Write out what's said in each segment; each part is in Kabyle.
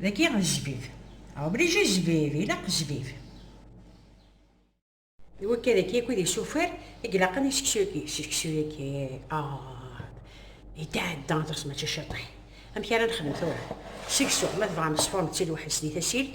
Dagi jbib. Obligé jbib, ilaq jbib. D wakka dagi akkit i sufar i ilaqen i seksu-agi. Seksu-agi, ah, yetɛedda aṭas mačči ciṭiḥ. Amek ara nexdem tura? Seksu, ma tebɣam ṣfurnetti lweḥd-s di tasilt,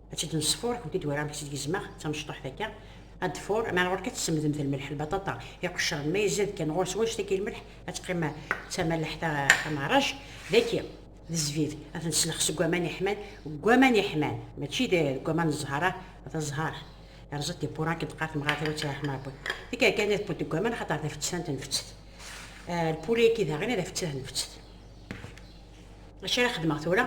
ad tt-id nesfuṛ ur t-id wara amek tt-id gezmeɣ d tamecṭuḥt akka ad d-fuṛ ma ɣur-k ad tessemdemt lmelḥ lbaṭaṭa iqeccren ma yezad kan ɣur-s wanect akka lmelḥ ad teqqim d tamalaḥt ameɛṛaj daki d zzbib ad ten-slex seg waman iḥman deg waman iḥman mačči deg waman n zzheṛ ah d azzheṛ yerẓa tibbura akken teqqar temɣart iwatt ara ḥmaṛ wwin deg akka ad tewwet deg waman axaṭer d afettan tenfettet lpuli-agi daɣen d afettat nfettet Acu ara xedmeɣ tura?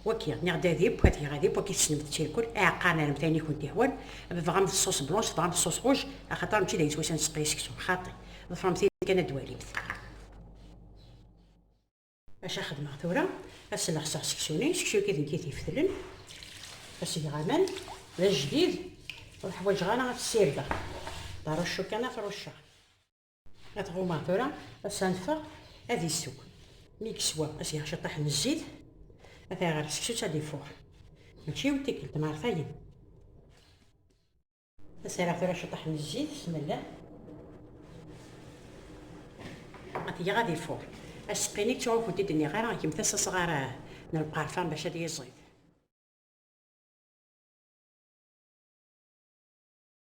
Waki, niɣ d adib, ad geɣ adib, waki tessnem tirkul, aɛeqqaren ara mtayen i kent-ihwan, tebɣam d ṣṣuṣ blanc, tebɣam d ṣṣuṣ rouj, axaṭer mačči d ayen swayes ad nesseqi seksu, xaṭi, ḍefrem tin kan ad d-walimt. Acu ara xedmeɣ tura? Ad selexseɣ seksu-ni, seksu-agi d nekk i t-ifetlen, ad s-geɣ aman, d ajdid, ur ḥwaǧeɣ ara ad t-ssirdeɣ, d aruccu kan ad t-rucceɣ. ad ɣumaɣ tura as anfeɣ ad issew mi yeswa as yaɣ ciṭṭaḥ n zzit ad iɣer seksu ad ifuɣ mačči yiwet tikkelt neɣ tayen as araɣ tura ciṭṭaḥ n zzit bismillah ad yaɣ ad ifuɣ asqini ttuɣ ur kent-id nniɣ ara gemt as asɣar n lqerfan bac ad yiẓid